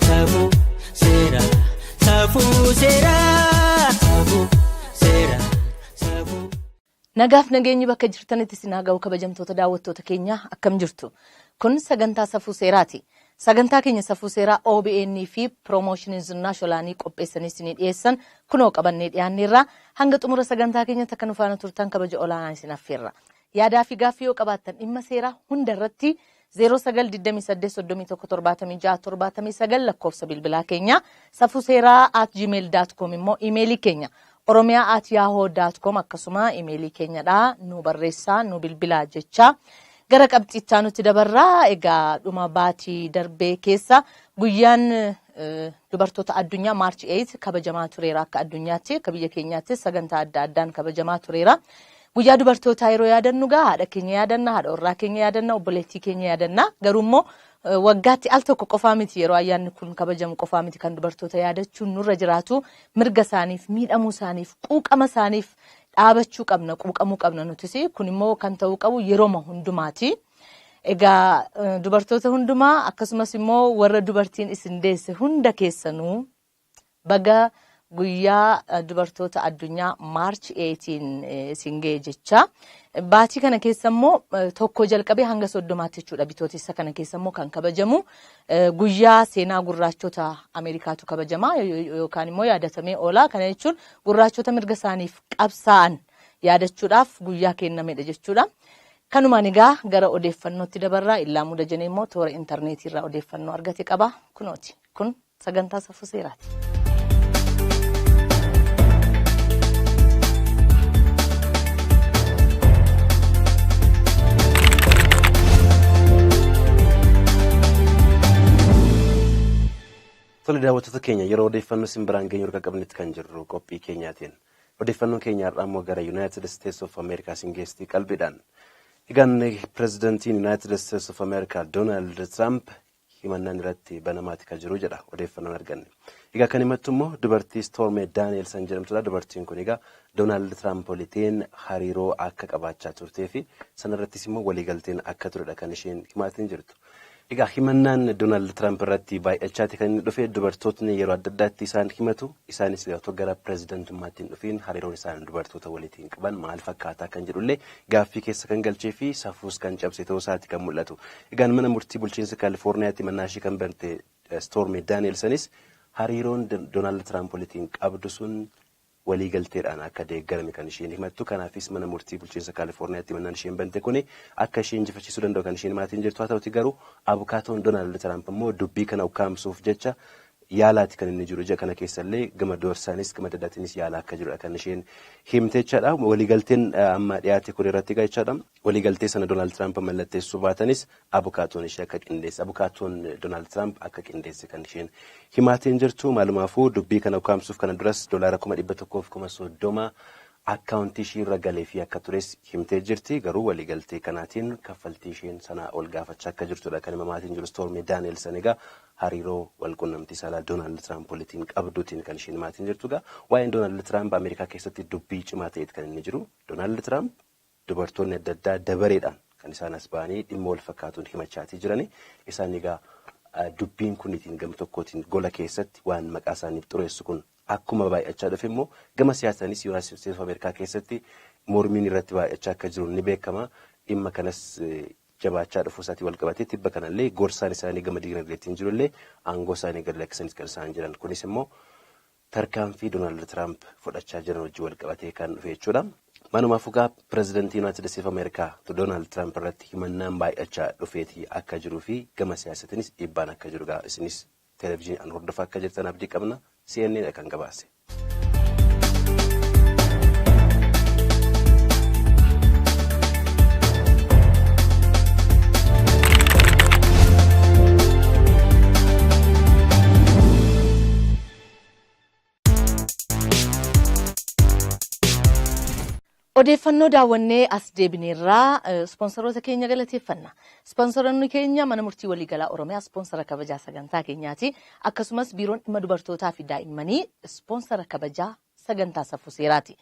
Safuu seeraa safuu seeraa safuu seeraa safuu. Nagaaf nageenyi bakka jirtanitti isin haa ga'u kabajamtoota daawwattoota keenyaa akkam jirtu. Kun sagantaa safuu seeraati. Sagantaa keenya safuu seeraa OBN fi Promotion Zinnaa Sholaanii qopheessanii isinii dhiyeessan kunoo qabannee dhiyaanneerraa hanga xumura sagantaa keenyatti akka nu faana turtan kabaja olaanaa isin affeerra. Yaadaa fi gaaffii yoo qabaattan dhimma seeraa hunda irratti 09 28 31 76 79 lakkoofsa bilbilaa keenya safuseeraa at gmail dot com immoo imeelii keenya oromiyaa at yahoo dot com akkasuma imeelii keenyadha nu barreessaa nu bilbilaa jecha gara qabxiichaa nutti dabarraa egaa dhuma baatii darbee keessa guyyaan eh, dubartoota addunyaa maarchi 8 kabajamaa tureera akka addunyaatti akka biyya keenyaattis sagantaa adda addaan kabajamaa tureera. Guyyaa dubartootaa yeroo yaadannu gaa haadha keenya yaadanna, haadha warraa keenya yaadanna, obboleettii keenya yaadanna. Garuu immoo eh, waggaatti al tokko qofaa miti yeroo ayyaanni kun kabajamu qofaa miti kan dubartoota yaadachuun nurra jiraatu mirga isaaniif, miidhamuu isaaniif, quuqama isaaniif dhaabachuu qabna, quuqamuu qabna nutis. Kun immoo kan ta'uu qabu yeroma hundumaati. Egaa eh, dubartoota hundumaa akkasumas immoo warra dubartiin isin deesse hunda keessanuu Baga guyyaa dubartoota addunyaa March 18 isin ga'e jechaa. Baatii kana keessa immoo tokko jalqabee hanga soddomaatti jechuudha bitootessa kana keessa immoo kan kabajamu guyyaa seenaa gurraachota Ameerikaatu kabajama yookaan immoo yaadatamee oola. Kana jechuun gurraachota mirga isaaniif qabsaa'an yaadachuudhaaf guyyaa kennamedha jechuudha. Kanumaan egaa gara odeeffannootti dabarraa illaa muda jenee immoo toora intarneetii irraa odeeffannoo argate qaba. Kunooti. Kun Sagantaa safuu seeraati. Tole daawwattoota keenya yeroo odeeffannoo isin biraan geenyu erga qabnetti kan jirru qophii keenyaatiin. Odeeffannoon keenya har'aa immoo gara Yuunaayitid Isteets of Ameerikaa isin geestii qalbiidhaan. Egaan pirezidantiin Yuunaayitid Isteets of Ameerikaa Doonaald Tiraamp himannaan irratti banamaati ka jiru jedha odeeffannoon arganne. Egaa kan himattu immoo dubartii Storme Danielson jedhamtudha. Dubartiin kun egaa Doonaald Tiraamp walitiin hariiroo akka qabaachaa turtee fi sanarrattis immoo waliigalteen akka turedha kan isheen himaatiin jirtu. Egaa himannaan Doonaald Tiraamp irratti baay'achaati kan inni dhufe dubartootni yeroo adda addaatti isaan himatu. Isaanis egaa otoo gara pirezidantummaatti hin dhufiin hariiroon isaan dubartoota walitiin qaban maal fakkaataa kan jedhullee gaaffii keessa kan galchee fi safuus kan cabse ta'uu isaati kan mul'atu. Egaan mana murtii bulchiinsa Kaalifoorniyaatti himannaa ishee kan bante Stoormi Daani'elsanis hariiroon Doonaald Tiraamp walitiin qabdu sun waliigalteedhaan akka deeggarame kan isheen himattu. Kanaafis mana murtii bulchiinsa Kaalifoorniyaatti himannaan isheen bante kuni akka ishee injifachiisuu danda'u kan isheen himaatiin jirtu. Haa ta'uti garuu abukaatoon Doonaald Tiraamp immoo dubbii kana ukkaamsuuf jecha yaalaati kan inni jiru. Ji'a kana keessa illee gama doorsaanis gama adda addaatiinis yaalaa akka jirudha kan isheen himte jechaadha. Waliigalteen amma dhiyaate kun irratti egaa jechaadha. Waliigaltee sana Donaald Tiraamp mallatteessuu baatanis abukaatoon ishee akka qindeesse, abukaatoon Donaald Tiraamp akka qindeesse kan isheen himaatee hin jirtu. Maalumaafuu dubbii kana ukaamsuuf kana duras doolaara kuma dhibba tokkoof kuma soddoma akkaawuntii ishii irra galeefii akka tures himtee jirti. Garuu waliigaltee kanaatiin kaffaltii isheen sanaa ol gaafachaa akka jirtudha kan himamaatiin jiru Stoormii Daani'elsan egaa hariiroo wal qunnamtii saalaa Donaald Tiraamp walitiin qabduutiin kan isheen himaatiin jirtu. Egaa waa'een Donaald Tiraamp Ameerikaa keessatti dubbii cimaa ta'eet kan inni jiru. Donaald Tiraamp Dubartoonni adda addaa dabareedhaan kan isaan as ba'anii dhimma wal fakkaatuun himachaatii jirani. Isaan egaa dubbiin kunitiin gam tokkootiin gola keessatti waan maqaa isaaniif xureessu kun akkuma baay'achaa dhufe immoo gama siyaasaanis Yuunaayitid Isteetis of Ameerikaa keessatti mormiin irratti baay'achaa akka jiru ni beekama. Dhimma kanas jabaachaa dhufuu isaatii wal qabatee tibba kanallee gorsaan isaanii gama diinagdeetiin jirullee aangoo isaanii gad lakkisanis kan isaan jiran. Kunis immoo Tarkaanfii Donaald Tiraamp fudhachaa jiran wajjin walqabatee kan dhufe jechuudha. Maanumaafuu egaa Pirezidantii Yunaayitid Isteetis of Ameerikaa Donaald Tiraamp irratti himannaan baay'achaa dhufeeti akka jiruu fi gama siyaasatiinis dhiibbaan akka jiru egaa isinis televizhiniidhaan hordofaa akka jirtan abdii qabna. CNN dha kan gabaase. Odeeffannoo daawwannee as deebineerraa ispoonsaroota keenya galateeffanna. Ispoonsaroonni keenya mana murtii waliigalaa Oromiyaa ispoonsara kabajaa sagantaa keenyaati. Akkasumas biiroon dhimma dubartootaa fi daa'immanii ispoonsara kabajaa sagantaa safuu seeraati.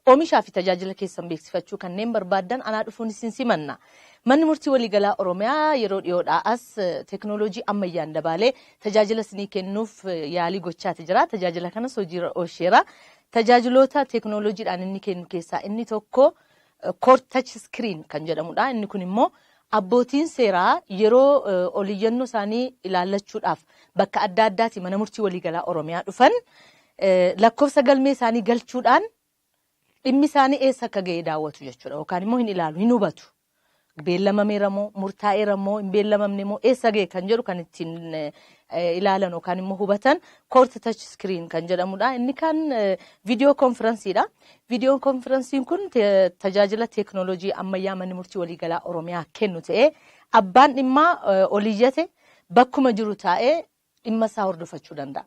Oomishaa fi tajaajila keessan beeksifachuu kanneen barbaaddan anaa dhufuun isin simanna. Manni Murtii Waliigalaa Oromiyaa yeroo dhiyoodhaa as teeknooloojii ammayyaan dabaalee tajaajila isinii kennuuf yaalii gochaati jira. Tajaajila kanas hojiirra oolcheera. Tajaajiloota teeknooloojiidhaan inni kennu keessaa inni tokko Court Touch Screen kan jedhamudha. Inni kun immoo abbootiin seeraa yeroo oliyyannoo isaanii ilaallachuudhaaf bakka adda addaati mana murtii waliigalaa Oromiyaa dhufan lakkofsa galmee isaanii galchuudhaan dhimmi isaanii eessa akka ga'e daawwatu jechuudha yookaan immoo hin ilaalu hin hubatu. Beellamameera moo murtaa'eera moo hin beellamamne moo eessa ga'e kan jedhu kan ittiin ilaalan yookaan immoo hubatan koorti tach iskiriin kan jedhamudha. Inni kan viidiyoo konfiransiidha. Viidiyoo konfiransiin kun tajaajila teeknooloojii ammayyaa manni murtii waliigalaa Oromiyaa kennu ta'ee abbaan dhimmaa oliyyate bakkuma jiru taa'ee dhimma isaa hordofachuu danda'a.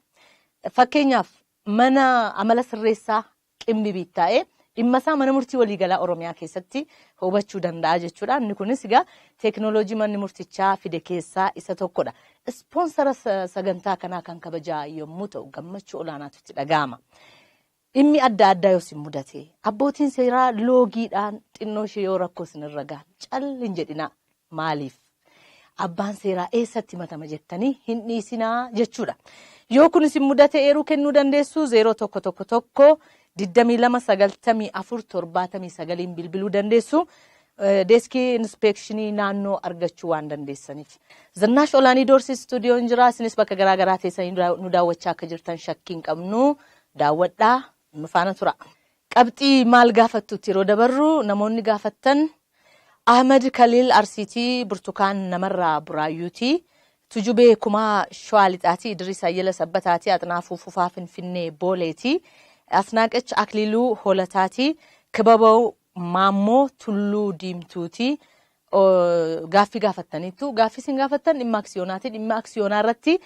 Fakkeenyaaf mana amala sirreessaa qimbibiit taa'ee dhimma isaa mana murtii waliigalaa Oromiyaa keessatti hubachuu danda'a jechuudha. Inni kunis egaa teekinooloojii manni murtichaa fide keessaa isa tokkodha. Ispoonsara sa- sagantaa kanaa kan kabajaa yommuu ta'u gammachuu olaanaatu itti dhaga'ama. Dhimmi adda addaa yoo isin mudate, abbootiin seeraa loogiidhaan xinnoo ishee yoo rakkoo isin irra gahan cal hin jedhinaa. Maaliif? Abbaan seeraa eessatti himatama jettanii hin dhiisinaa jechuudha. Yoo kun isin mudate eeruu kennuu dandeessu 0111 22 94 79n bilbiluu dandeessu. Deeskii inspeekshinii naannoo argachuu waan dandeessaniif. Zinnaash Olaanii Doorsi Istuudiyoon jira. Isinis bakka garaa garaa teessanii nu daawwachaa akka jirtan shakkii hin qabnu. Daawwadhaa nu faana tura. Qabxii maal gaafattuutti yeroo dabarru namoonni gaafattan Ahmed Kaliil Arsiitii, Burtukaan Namarraa Buraayyuutii, Tujubee Kumaa Shawaa Lixaatii, Idris Ayyala Sabbataatii, Axnaafuu Fufaa Finfinnee Booleetii, Asnaaqech Akliiluu Holataatii, Kibabaw Maammoo Tulluu Diimtuuti. Gaaffii gaafattaniittu. Gaaffii isin gaafattan dhimma aksiyonaati. Dhimma aksiyoonaa irratti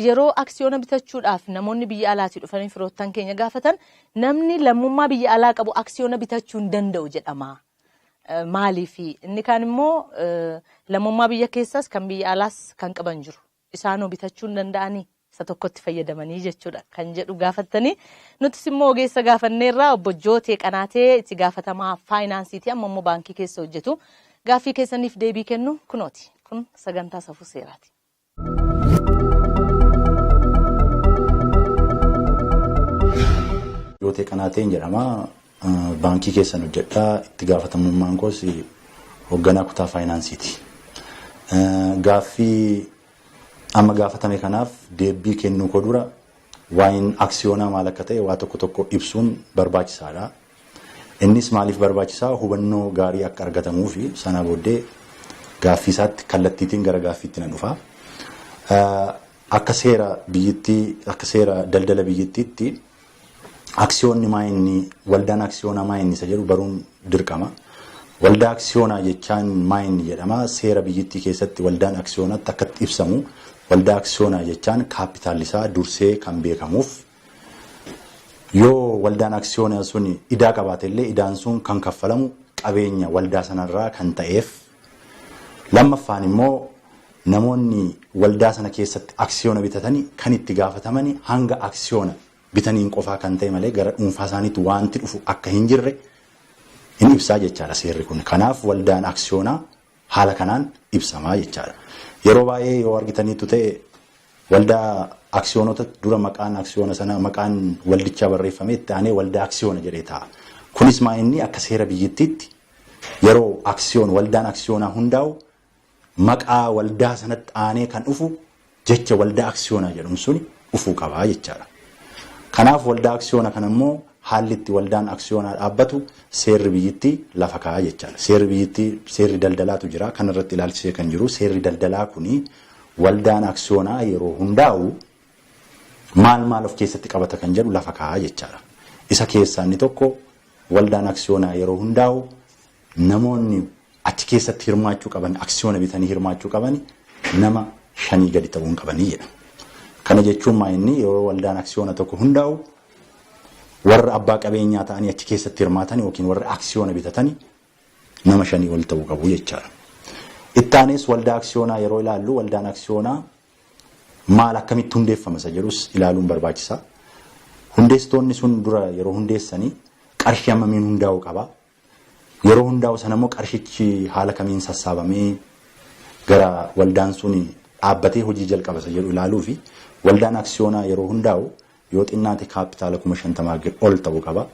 yeroo aksiyoona bitachuudhaaf namoonni biyya alaatii dhufanii firoottan keenya gaafatan namni lammummaa biyya alaa qabu aksiyoona bitachuu hin danda'u jedhama. Maaliifi? Inni kaan immoo lammummaa biyya keessaas kan biyya alaas kan qaban jiru. isaanoo bitachuu hin danda'anii? Isa tokkotti fayyadamanii jechuudha kan jedhu gaafattanii nutis immoo ogeessa gaafanneerraa obbo Jootee Qanaatee itti gaafatamaa faayinaansiiti amma immoo baankii keessa hojjetu gaaffii keessaniif deebii kennu kunooti kun sagantaa safuu seeraati. Jootee Qanaateen jedhama. Baankii keessan hojjedha. Itti gaafatamummaan koos hogganaa kutaa faayinaansiiti. Gaaffii amma gaafatame kanaaf deebbii kennuu koo dura waa'een aksiyoonaa maal akka ta'e waa tokko tokko ibsuun barbaachisaadha. Innis maaliif barbaachisaa hubannoo gaarii akka argatamuu fi sanaa booddee gaaffii isaatti kallattiitiin gara gaaffiitti nan dhufa. Akka seera biyyittii akka seera daldala biyyittiitti aksiyoonni maa inni waldaan aksiyoonaa maa inni isa jedhu baruun dirqama. Waldaa aksiyoonaa jechaan maa inni jedhama seera biyyittii keessatti waldaan aksiyoonatti akkatti ibsamu waldaa aksiyoonaa jechaan kaapitaalisaa dursee kan beekamuuf yoo waldaan aksiyoonaa sun idaa qabaate illee idaan sun kan kaffalamu qabeenya waldaa sanarraa kan ta'eef Lammaffaan immoo namoonni waldaa sana keessatti aksiyoona bitatani kan itti gaafatamani hanga aksiyoona bitaniin qofaa kan ta'e malee gara dhuunfaa isaaniitti waanti dhufu akka hin jirre hin ibsaa jechaadha seerri kun. Kanaaf waldaan aksiyoonaa haala kanaan ibsamaa jechaadha. Yeroo baay'ee yoo argitaniitu ta'e waldaa aksiyoonota dura maqaan aksiyoona sana maqaan waldichaa barreeffamee itti aanee waldaa aksiyoona jedhee ta'a. Kunis maa inni akka seera biyyittiitti Yeroo aksiyoon waldaan aksiyoonaa hundaa'u maqaa waldaa sanatti aanee kan dhufu jecha waldaa aksiyoonaa jedhamu suni dhufuu qaba jechaadha. Kanaaf waldaa aksiyoona kana immoo haalli itti waldaan aksiyoonaa dhaabbatu seerri biyyittii lafa kaa'a jechaadha. Seerri biyyittii seerri daldalaatu jira. Kan irratti ilaalchisee kan jiru seerri daldalaa kuni waldaan aksiyoonaa yeroo hundaa'u maal maal of keessatti qabata kan jedhu lafa kaa'a jechaadha. Isa keessaa inni tokko waldaan aksiyoonaa yeroo hundaa'u namoonni achi keessatti hirmaachuu qaban aksiyoona bitanii hirmaachuu qaban nama shanii gadi ta'uu hin qabanii jedha. Kana jechuun maa inni yeroo waldaan aksiyoona tokko hundaa'u warra abbaa qabeenyaa ta'anii achi keessatti hirmaatan yookiin warra aksiyoona bitatanii nama shanii ol ta'uu qabu jechaadha. Ittaanis waldaa aksiyoonaa yeroo ilaallu waldaan aksiyoonaa maal akkamitti hundeeffama isa jedhus ilaaluun barbaachisa. Hundeessitoonni sun dura yeroo hundeessanii qarshii hammamiin hundaa'u qaba. Yeroo hundaa'u sana immoo qarshichi haala kamiin sassaabamee gara waldaan sun dhaabbatee hojii jalqaba isa jedhu ilaaluu fi waldaan aksiyoonaa yeroo hundaa'u yoo xinnaate kaappitaala kuma shantamaa ol ta'uu qaba.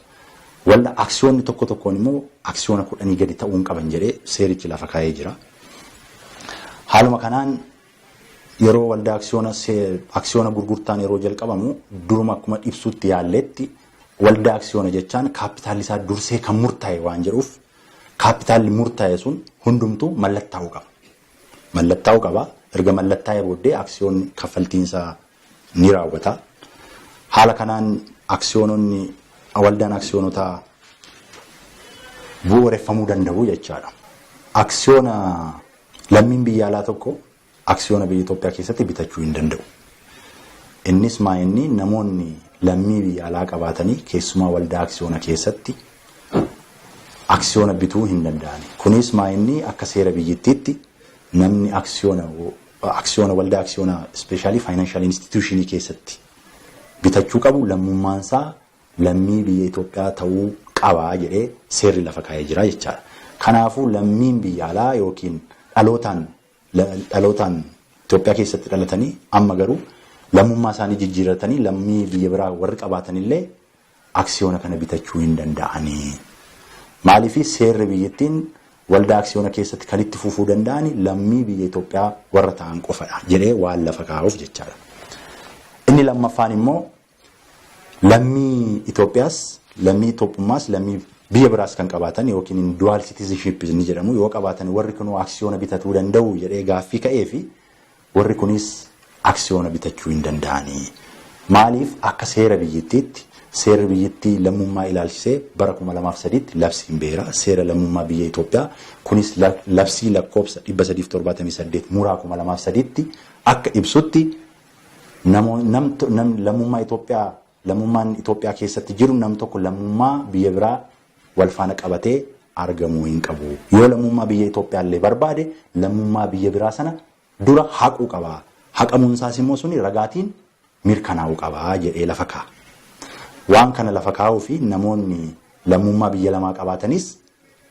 Walda aksiyoonni tokko tokkoon immoo aksiyoona kudhanii gadi ta'uun qaban jedhee seerichi lafa kaa'ee jira. Haaluma kanaan Yeroo waldaa aksiyoona aksiyoona gurgurtaan yeroo jalqabamu duruma akkuma ibsuutti yaalleetti waldaa aksiyoona jechaan kaappitaalli isaa dursee kan murtaa'e waan jedhuuf kaappitaalli murtaa'e sun hundumtuu mallattaa'uu qaba. Mallattaa'uu qaba. Erga mallattaa'ee booddee aksiyoonni kaffaltiinsaa ni raawwata. Haala kanaan aksiyoononni waldaan aksiyoonotaa bu'uureffamuu danda'u jechaadha. Aksiyoona lammiin biyya alaa tokko aksiyoona biyya Itoophiyaa keessatti bitachuu hin danda'u. Innis maa inni namoonni lammii biyya alaa qabaatanii keessumaa waldaa aksiyoona keessatti aksiyoona bituu hin danda'ani. Kunis maa inni akka seera biyyittiitti namni aksiyoona aksiyoona waldaa aksiyoona ispeeshaalii faayinaanshaal instituushinii keessatti bitachuu qabu lammummaan isaa lammii biyya Itoophiyaa ta'uu qaba jedhee seerri lafa kaa'ee jira jechaadha. Kanaafuu lammiin biyya alaa yookiin dhalootaan dhalootaan Itoophiyaa keessatti dhalatanii amma garuu lammummaa isaanii jijjiirratanii lammii biyya biraa warri qabaatanillee aksiyoona kana bitachuu hin danda'ani. Maaliif seerri biyyittiin waldaa aksiyoona keessatti kan itti fufuu danda'an lammii biyya Itoophiyaa warra ta'an qofadha jedhee waan lafa kaa'uuf jechaadha. Inni lammaffaan immoo lammii Itoophiyaas lammii Itoophummaas lammii biyya biraas kan qabaatan yookiin dual citizenship ni jedhamu yoo qabaatan warri kunuu aksiyoona bitatuu danda'u jedhee gaaffii ka'ee fi Warri kunis aksiyoona bitachuu hin danda'ani. Maaliif akka seera biyyittiitti seerri biyyittii lammummaa ilaalchisee bara 2003tti labsiin ba'eera. Seera lammummaa biyya Itoophiyaa kunis labsii lakkoofsa 378 muraa 2003tti akka ibsutti lammummaa Itoophiyaa Lammummaan Itoophiyaa keessatti jiru nam tokko lammummaa biyya biraa wal faana qabatee argamuu hin qabu. Yoo lammummaa biyya Itoophiyaa illee barbaade lammummaa biyya biraa sana dura haquu qaba. Haqamuun isaas immoo suni ragaatiin mirkanaa'uu qaba jedhee lafa kaa'a. Waan kana lafa kaa'uu fi namoonni lammummaa biyya lamaa qabaatanis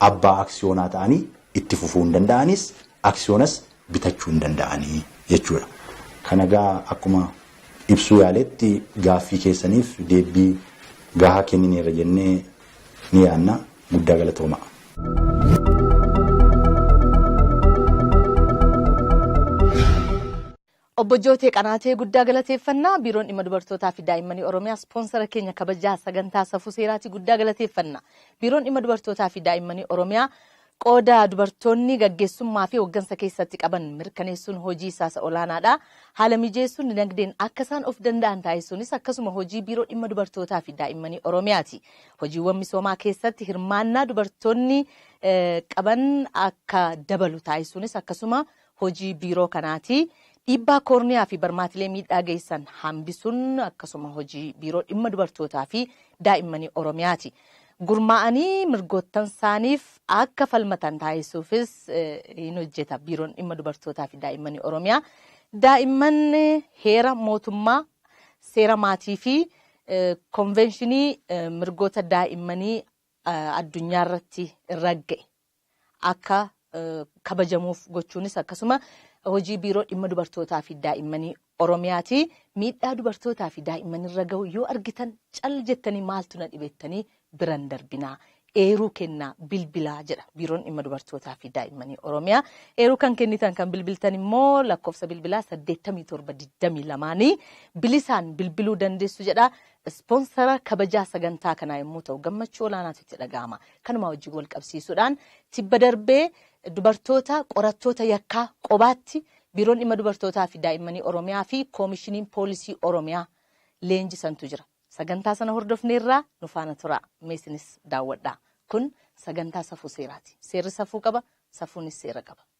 abbaa aksiyoonaa ta'anii itti fufuu hin danda'anis aksiyoonas bitachuu hin danda'ani jechuudha. Kana egaa akkuma ibsuu yaaletti gaaffii keessaniif deebbii gahaa kennineerra jennee ni yaanna. Guddaa galatoomaa. Obbo Jootee Qanaatee guddaa galateeffanna. Biiroon Dhimma Dubartootaa fi Daa'immanii Oromiyaa ispoonsara keenya kabajaa sagantaa Safuu Seeraatii guddaa galateeffanna. Biiroon Dhimma Dubartootaa fi Daa'immanii Oromiyaa qooda dubartoonni gaggeessummaa fi hoggansa keessatti qaban mirkaneessuun hojii isaa isa olaanaadha. Haala mijeessuun dinagdeen akka isaan of danda'an taasisuunis akkasuma hojii Biiroo Dhimma Dubartootaa fi Daa'immanii Oromiyaati. Hojiiwwan misoomaa keessatti hirmaannaa dubartoonni qaban akka dabalu taasisuunis akkasuma hojii biiroo kanaati. Dhiibbaa koorniyaa fi barmaatilee miidhaa geessan hambisun akkasuma hojii biiroo dhimma dubartootaa fi daa'immanii Oromiyaati. Gurmaa'anii mirgoottansaaniif akka falmatan taasisuufis hin hojjeta biiroon dhimma dubartootaa fi daa'immanii Oromiyaa. Daa'imman heera mootummaa, seera maatii fi konveenshinii mirgoota daa'immanii addunyaa irratti ragga'e akka kabajamuuf gochuunis akkasuma hojii biiroo dhimma dubartootaa fi daa'immanii Oromiyaati. Miidhaa dubartootaa fi daa'immanirra gahu yoo argitan cal jettanii maaltu na dhibettanii biran darbinaa. Eeruu kennaa bilbilaa jedha biiroon dhimma dubartootaa fi daa'immanii Oromiyaa. Eeruu kan kennitan kan bilbiltan immoo lakkoofsa bilbilaa 8722 bilisaan bilbiluu dandeessu jedha. Ispoonsara kabajaa sagantaa kanaa yommuu ta'u gammachuu olaanaatu itti dhaga'ama. Kanuma wajjin walqabsiisuudhaan tibba darbee dubartoota qorattoota yakkaa qobaatti Biiroon Dhimma Dubartootaa fi Daa'immanii Oromiyaa fi Koomishiniin Poolisii Oromiyaa leenjisantu jira. Sagantaa sana hordofneerra nu faana turaa. Mee isinis daawwadhaa. Kun sagantaa safuu seeraati. Seerri safuu qaba, safuunis seera qaba.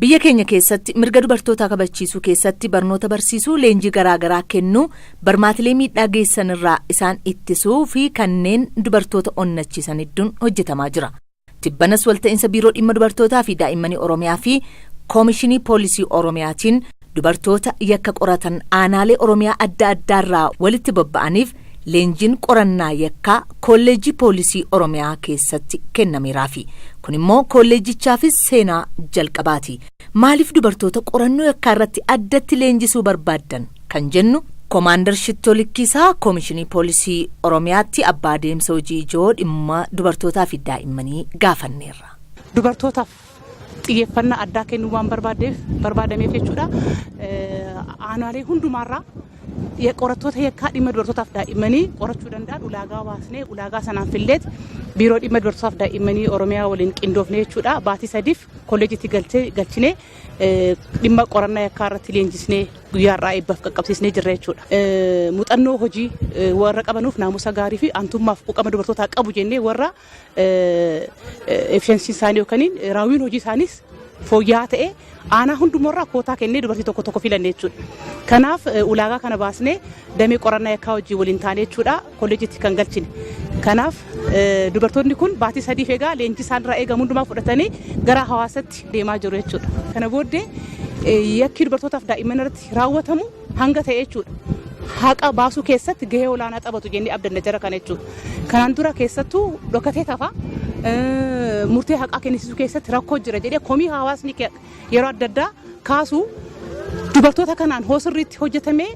Biyya keenya keessatti mirga dubartootaa kabachiisuu keessatti barnoota barsiisuu, leenjii garaa garaa kennuu, barmaatilee miidhaa geessan irraa isaan ittisuu fi kanneen dubartoota onnachiisan hedduun hojjetamaa jira. Tibbanas walta'insa Biiroo Dhimma Dubartootaa fi Daa'immanii Oromiyaa fi Koomishinii Poolisii Oromiyaatiin, Dubartoota yakka qoratan aanaalee Oromiyaa adda addaarraa walitti bobba'aniif leenjiin qorannaa yakkaa Koolleejjii Poolisii Oromiyaa keessatti kennameeraafi. Kun immoo koolleejjichaafis seenaa jalqabaati. Maaliif dubartoota qorannoo yakkaa irratti addatti leenjisuu barbaaddan kan jennu Komaandar Shittoo Likkiisaa Koomishinii Poolisii Oromiyaatti abbaa adeemsa hojii ijoo dhimma dubartootaa fi daa'immanii gaafanneerra. Dubartootaaf xiyyeeffannaa addaa kennuu waan barbaadameef jechuudha. Aanaalee hundumaarraa qorattoota yakkaa dhimma dubartootaaf daa'immanii qorachuu danda'an ulaagaa baasnee ulaagaa sanaan filleet biiroo dhimma dubartootaaf daa'immanii Oromiyaa waliin qindoofne jechuudha. Baatii sadiif kolleejitti galchinee dhimma qorannaa yakkaa irratti leenjisnee guyyaa har'aa eebbaaf qaqqabsiisnee jirra jechuudha. Muuxannoo hojii warra qabanuuf naamusa gaarii fi aantummaaf quuqama dubartootaa qabu jennee warra efficiency isaanii yookaan raawwiin hojii isaaniis fooyya'aa ta'e aanaa hundumarraa kootaa kennee dubartii tokko tokko filanne jechuudha. Kanaaf eh, ulaagaa kana baasnee damee qorannaa yakkaa wajjin waliin taanee jechuudha kolleejitti kan galchine. Kanaaf eh, dubartoonni kun baatii sadiif egaa leenjii isaanirraa eegamu hundumaa fudhatanii gara hawaasatti deemaa jiru jechuudha. Kana booddee eh, yakki dubartootaaf daa'imman irratti raawwatamu hanga ta'e jechuudha. Haqa baasuu keessatti gahee olaanaa taphatu jennee abdanna jara kana jechuudha. Kanaan dura keessattuu dhokatee tafa murtee haqaa kennisiisuu keessatti rakkoo jira jedhee komii hawaasni yeroo adda addaa kaasu dubartoota kanaan hoo sirriitti hojjetamee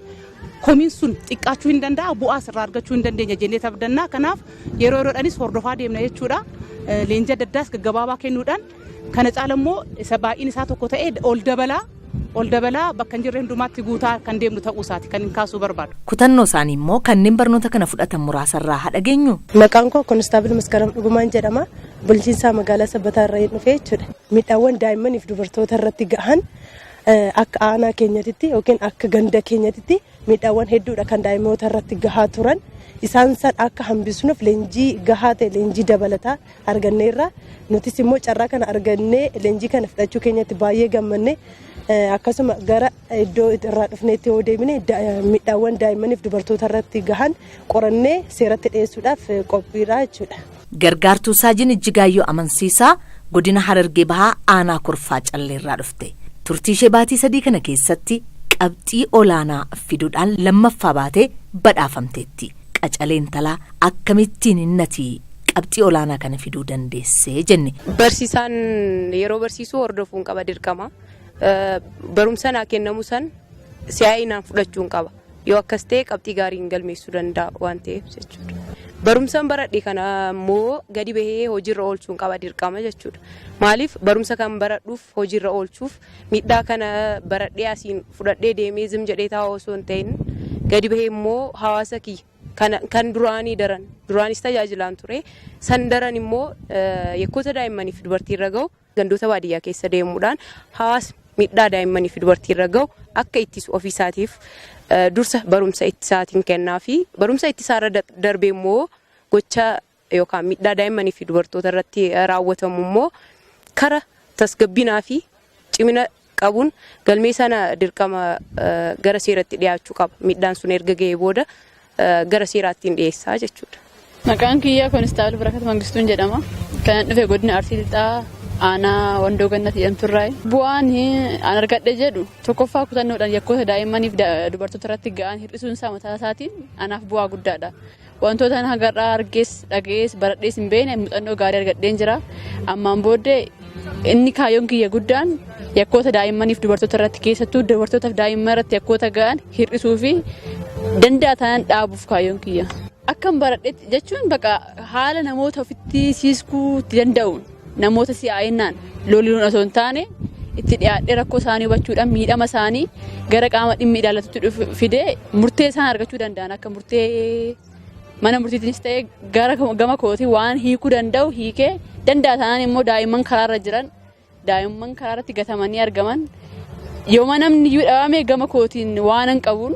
komiin sun xiqqaachuu hin danda'a bu'aas irraa argachuu hin dandeenya jennee tabdannaa kanaaf yeroo yeroodhaanis hordofaa deemna jechuudha. Leenjii adda addaas gaggabaabaa kennuudhaan Kana caala immoo isa baay'een isaa tokko ta'ee ol dabalaa ol dabalaa bakka hin jirre hundumaatti guutaa kan deemnu ta'uu isaati kan hin kaasuu barbaadu. Kutannoo isaanii immoo kanneen barnoota kana fudhatan muraasa irraa haa dhageenyu. Maqaan koo Konistaabil Maskaram Dhugumaan jedhama. Bulchiinsaa magaalaa Sabbataa irraa hin dhufee jechuudha. Miidhaawwan daa'immaniif dubartoota irratti gahan akka aanaa keenyatitti yookiin akka ganda keenyatitti Miidhaawwan hedduudha kan daa'imoota irratti gahaa turan. Isaan san akka hambisnuuf leenjii gahaa ta'e leenjii dabalataa arganneerra. Nutis immoo carraa kana argannee leenjii kana fudhachuu keenyatti baay'ee gammanne. Akkasuma gara iddoo irraa dhufneetti yoo deemine miidhaawwan daa'immaniif dubartoota irratti gahan qorannee seeratti dhiyeessuudhaaf qophiidha jechuudha. Gargaartuu Saajin Ijjigaayyoo Amansiisaa Godina Harargee Bahaa Aanaa Kurfaa Calleerraa dhufte. Turtiishee baatii sadii kana keessatti qabxii olaanaa fiduudhaan lammaffaa baatee badhaafamteetti. Qacalee intalaa akkamittiin innati qabxii olaanaa kana fiduu dandeessee jenne. Barsiisaan yeroo barsiisuu hordofuun qaba dirqama. Barumsa naa kennamu san si'aayinaan fudhachuun qaba. Yoo akkas ta'e qabxii gaarii hin galmeessuu danda'a waan ta'eef jechuudha. Barumsan baradhe kana immoo gadi bahee hojiirra oolchuun qaba dirqama jechuudha. Maaliif barumsa kan baradhuuf hojiirra oolchuuf miidhaa kana baradhee asiin fudhadhee deemee zim jedhee taa'u osoo hin ta'in gadi bahee immoo hawaasa kiyya kana kan duraanii daran duraanis tajaajilaan ture san daran immoo yakkoota daa'immanii fi dubartii irra gahu Gandoota baadiyyaa keessa deemuudhaan hawaasni miidhaa daa'immanii fi dubartii irra gahu akka ittisu ofii isaatiif dursa barumsa ittisaatiin kennaa fi barumsa ittisaa irra darbee immoo gocha yookaan miidhaa daa'immanii fi dubartoota irratti raawwatamu immoo kara tasgabbinaa fi cimina qabuun galmee sana dirqama gara seeratti dhiyaachuu qaba. Miidhaan sun erga ga'ee booda gara seeraattiin dhiyeessaa jechuudha. Maqaan kiyya Koonistaabal Barakat Mangistuun jedhama. Kanan dhufe godina Arsii Lixaa aanaa Wandoo Gannat jedhamturraayi. Bu'aan an argadhe jedhu tokkoffaa kutannoodhaan yakkoota daa'immaniif dubartoota irratti ga'an hir'isuun isaa mataa isaatiin anaaf bu'aa guddaadha. Wantoota haga har'aa argees dhaga'ees baradhees hin beekne muuxannoo gaarii argadheen jira. Ammaan booddee inni kaayyoon kiyya guddaan yakkoota daa'immaniif dubartoota irratti keessattuu dubartootaaf daa'imman irratti yakkoota ga'an hir'isuu fi danda'a taanaan dhaabuuf kaayyoon kiyya. Akkan baradhetti jechuun bakka haala namoota ofitti siiskuu itti danda'uun. Namoota si'aa'innaan loluun osoo hin taane itti dhiyaadhee rakkoo isaanii hubachuudhaan miidhama isaanii gara qaama dhimmi ilaallatutti dhufu- fidee murtee isaan argachuu danda'an akka murtee mana murtiitiinis ta'ee gara gama kootiin waan hiikuu danda'u hiikee danda'a taanaan immoo daa'imman karaarra jiran daa'imman karaarratti gatamanii argaman yooma namni iyyuu dhabame gama kootiin waan hin qabuun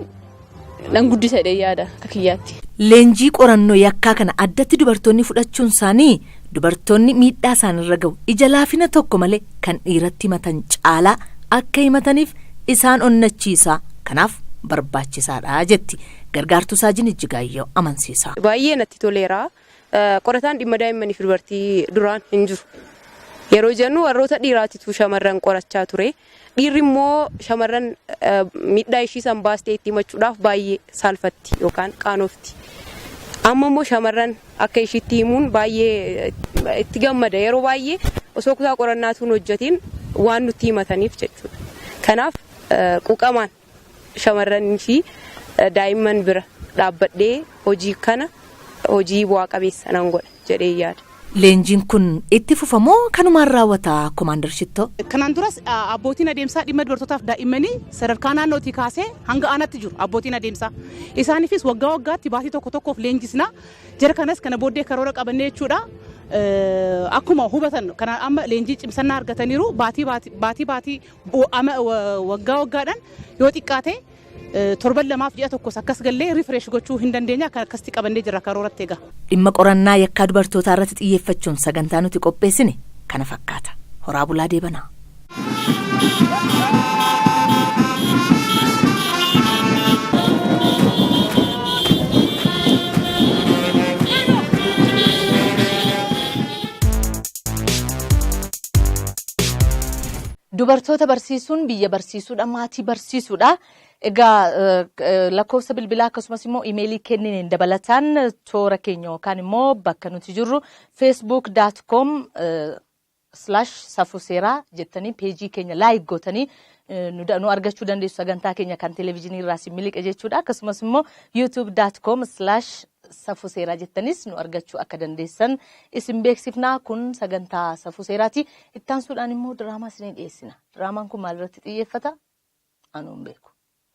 nan guddisa jedhee yaada akka kiyyaatti. Leenjii qorannoo yakkaa kana addatti dubartoonni fudhachuun isaanii dubartoonni miidhaa isaanirra gahu ija laafina tokko malee kan dhiiratti himatan caalaa akka himataniif isaan onnachiisa kanaaf barbaachisaadha jetti gargaartuu saajin Ijjigaayyoo Amansiisaa. Baay'ee natti toleera. Qorataan dhimma daa'immanii fi dubartii duraan hin jiru. Yeroo jennu warroota dhiiraatitu shamarran qorachaa ture. Dhiirri immoo shamarran miidhaa ishii san baastee itti himachuudhaaf baay'ee saalfatti yookaan qaanofti. Amma immoo shamarran akka ishiitti himuun baay'ee itti gammada. Yeroo baay'ee osoo kutaa qorannaatuu hin hojjetiin waan nutti himataniif jechuudha. Kanaaf quuqamaan Shamarranii fi daa'imman bira dhaabbadhee hojii kana hojii bu'aa qabeessa nan godha jedhee yaada. Leenjiin kun itti fufa moo kanumaan raawwata Komaandar Shittoo? Kanaan duras abbootiin adeemsaa dhimma dubartootaaf daa'immanii sadarkaa naannootii kaasee hanga aanaatti jiru abbootiin adeemsaa. Isaaniifis waggaa waggaatti baatii tokko tokkoof leenjisna. Jara kanas kana booddee karoora qabannee jechuudha. Akkuma hubatan kanaan amma leenjii cimsannaa argataniiru baatii baatii Waggaa waggaadhaan yoo xiqqaate torban lamaaf ji'a tokkos akkas gallee rifireesh gochuu hin dandeenya akka akkasitti qabannee jira karooratti egaa. Dhimma qorannaa yakkaa dubartootaa irratti xiyyeeffachuun sagantaa nuti qopheessine kana fakkaata. Horaa bulaa deebanaa. Dubartoota barsiisuun biyya barsiisuudha, maatii barsiisuudha. Egaa lakkoofsa bilbilaa akkasumas immoo imeelii kennine dabalataan toora keenya yookaan immoo bakka nuti jirru facebook.com slash safuu seeraa jettanii peejii keenya laayik gootanii nu argachuu dandeessu sagantaa keenya kan televezyiinii irraa si miliqe jechuudha akkasumas immoo youtube.com slash safuu seeraa jettanis nu argachuu akka dandeessan isin beeksifnaa kun sagantaa safuu seeraati ittaansuudhaan immoo diraamaa isinii dhiyeessina diraamaan kun maalirratti xiyyeeffata anuun beeku.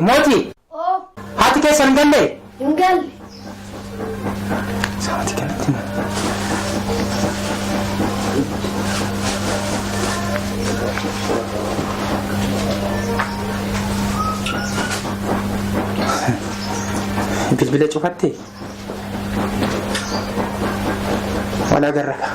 Mootii! Oo! Haati keessan hin gallee? Hin galle. Sa'aatii kanatti na. Bilbila cufatte? Wal agarra kaa.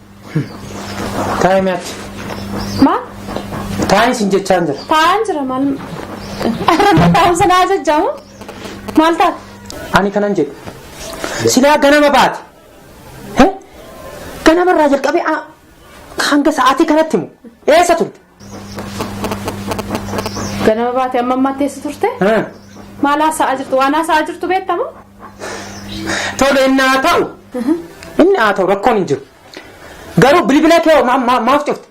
Taa'ee mee achi. Maal? Taa'ee sin jechaan jira. Taa'aan jira maal? Taa'uun sanaa jajjamu? Maal taate? Ani kanan jedhu. Silaa ganama baate. He? Ganamarraa jalqabee a- hanga sa'aatii kanatti moo? Eessa turte? Ganama baate amma ammaatti eessa turte? Maal haasa'aa jirtu? Waan haasa'aa jirtu beektamu? Tole inni haa ta'u. Inni haa ta'u rakkoon hin jiru. Garuu bilbila kee hoo ma- ma- maaf cufte?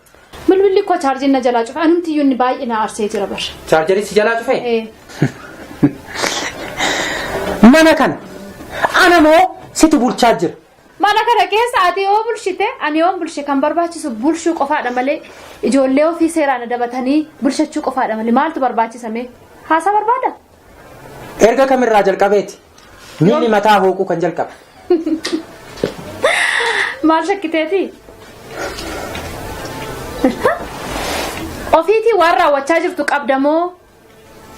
Bilbilli koo chaarjiin na jalaa cufe. Anumti iyyuu inni baay'ee na aarsee jira bar. Chaarjarii si jalaa cufee? Ee. Mana kana ana moo situ bulchaa jira. Mana kana keessa ati yoo bulshite ani yoon bulshe kan barbaachisu bulshuu qofaadha malee ijoollee ofii seeraan adabatanii bulshachuu qofaadha malee maaltu barbaachisa mee haasaa barbaada? Erga kamirraa jalqabeeti miilli mataa hooquu kan jalqabe. Maal shakkiteeti? Ofiitii waan raawwachaa jirtu qabda moo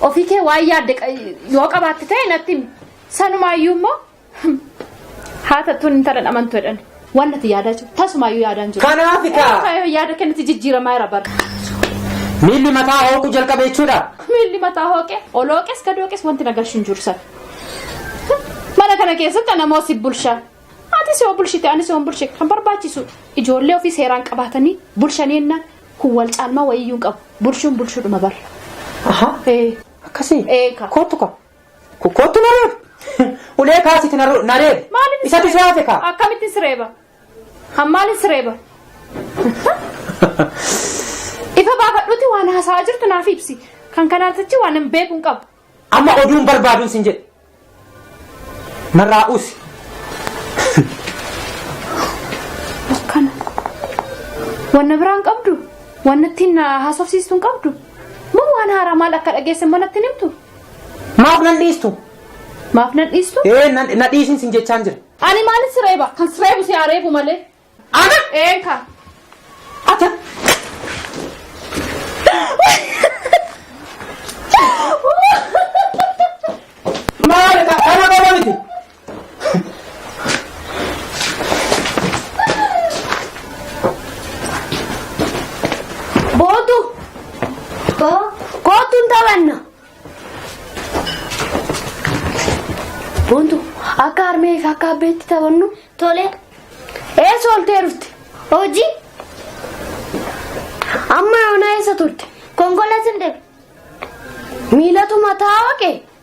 ofii kee waan yaadde qa- yoo qabaatte ta'e natti himi. Sanumaayyuu immoo Haa tattuun intala dhamantu jedhan. Waan natti yaadaa jiru. Tasumaayyuu yaadaan jiru. Kanaaf kaa. Kaayyoo yaada kennatti jijjiiramaa jira bara. Miilli mataa hooquu jalqabe jechuudha. Miilli mataa hooqe olooqes gadooqes wanti na galchu hin jiru sana. Mana kana keessatti ana moo si bulsha. Ati si bulshite ani si bulshe kan barbaachisu ijoollee ofii seeraan qabaatanii bulshanii jennaan kun wal caalmaa wayiyyuu hin qabu. Bulshuun bulshuudhuma bara. Aha. Ee. Akkasii. Eeka. Kootu kaa. Ko kottu na reeb. Ulee kaasiti na ru- na reeb. Maalin Isatu si hafe kaa. Akkamitti sireeba? Han maalin sireeba? Ifa baafadhuuti waan haasa'aa jirtu naaf ibsi. Kan kanaan tachi waan hin beeku hin qabu. Amma oduun barbaaduun sin jedhe. Narraa usi. Akkana. Wanna biraa hin qabdu? Wanna ittiin na haasofsiistu hin qabdu? Moo waan haaraa maal akka dhageesse immoo natti hin himtu? Maaf nan dhiistu? Maaf nan dhiistu? Ee na na dhiisin sin jechaan jira. Ani maalin si reeba? Kan si reebu si haa reebu malee. Ana? Een kaa. Ata. Maal ka kana qofa miti. Bootu. Boo. Kootu hin taphanna. Boontu akka harmee fi akka abbeetti taphannu Tole. eessa oltee dhufte? Hojii. Amma yoona eessa turte? Konkolaatiin deema. Miilatu mataa waaqe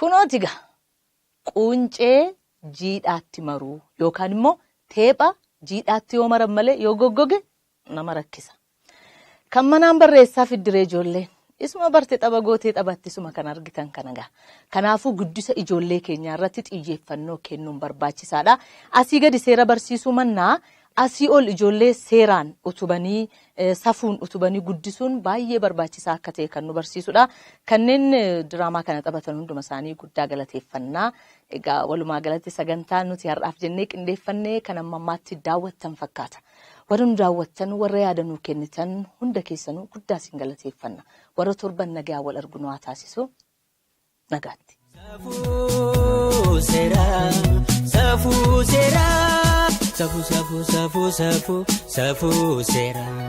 Kunooti egaa quuncee jiidhaatti maruu yookaan immoo teepha jiidhaatti yoo maran malee yoo goggoge nama rakkisa. Kan manaan barreessaa fiddiree ijoolleen. Isuma barte xaba gootee xabatti isuma kan argitan kana gaa. Kanaafuu guddisa ijoollee keenyaa irratti xiyyeeffannoo kennuun barbaachisaadha. Asii gadi seera barsiisuu mannaa asii ol ijoollee seeraan utubanii safuun utubanii guddisuun baay'ee barbaachisaa akka ta'e kan nu barsiisudha. Kanneen diraamaa kana taphatan hunduma isaanii guddaa galateeffannaa. Egaa walumaa galatti sagantaa nuti har'aaf jennee qindeeffannee kan amma ammaatti daawwattan fakkaata. Warri nu daawwattan, warra yaada nuu kennitan hunda keessanuu guddaa isin galateeffanna. Warra torban nagaa wal argu nu haa taasisu. Nagaatti. Safuu seeraa, safuu seeraa, safuu safuu safuu safuu safuu seeraa.